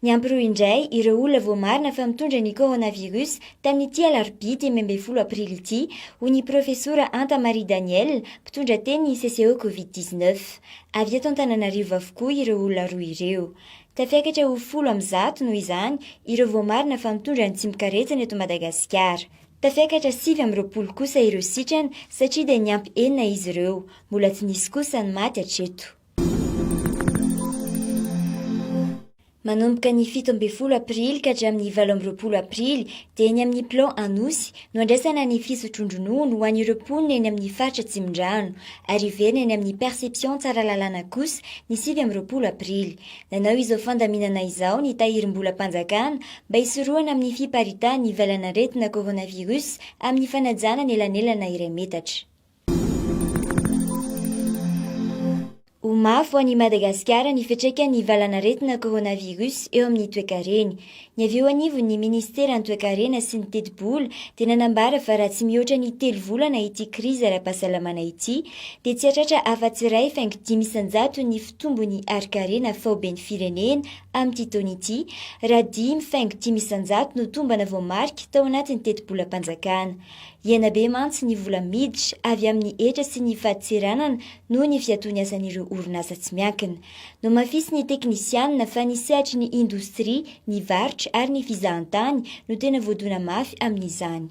Niampy roa indray ireo olona voamarina fa mitondra ny coronavirus tamin'ity alarobia dimy ambin'ny folo aprily ity, hoy ny profesora Anta Marie Danielle, mpitondra teny ny CCE Covid 19. Avy eto Antananarivo avokoa ireo olona roa ireo. Tafiakatra ho folo amin'ny zato, noho izany, ireo voamarina fa mitondra ny tsimok'aretsana eto Madagasikara. Tafiakatra sivy amby roapolo kosa ireo sitrana satria dia niampy enina izy ireo. Mbola tsy nisy kosa ny maty hatreto. Manomboka ny fito ambin'ny folo aprily ka hatramin'ny valo amby roapolo aprily dia eny amin'ny Plan Anosy no andraisana ny fisotroan-dronono ho an'ireo mponina eny amin'ny faritra Tsimindrano ary hiverina eny amin'ny Perception Tsaralalàna kosa ny sivy amby roapolo aprily. Nanao izao fandaminana izao ny Tahirimbolam-panjakana mba hisorohana amin'ny fiparitahan'ny valan'aretina coronavirus amin'ny fanajana ny elanelana iray metatra. Ho mafy ho an'i Madagasikara ny fiantraikan'ny valan'aretina coronavirus eo amin'ny toekareny. Ny avy eo anivon'ny minisiteran'ny Toekarena sy ny tetibola dia nanambara fa raha tsy mihoatra ny telo volana ity krizy ara-pahasalamana ity dia tsy hahatratra afa-tsy iray faingo dimy isan-jato ny fitombon'ny harin-karena faoben'ny firenena amin'ity taona ity raha dimy faingo dimy isan-jato no tombana voamarika tao anatin'ny tetibolam-panjakana. Hiaina be mantsy ny vola miditra avy amin'ny hetra sy ny fadintseranana noho ny fiatoan'ny asan'ireo orinasa tsy miankina. Nohamafisin'ny teknisianina fa ny sehatry ny indostria, ny varotra ary ny fizahantany no tena voadona mafy amin'izany.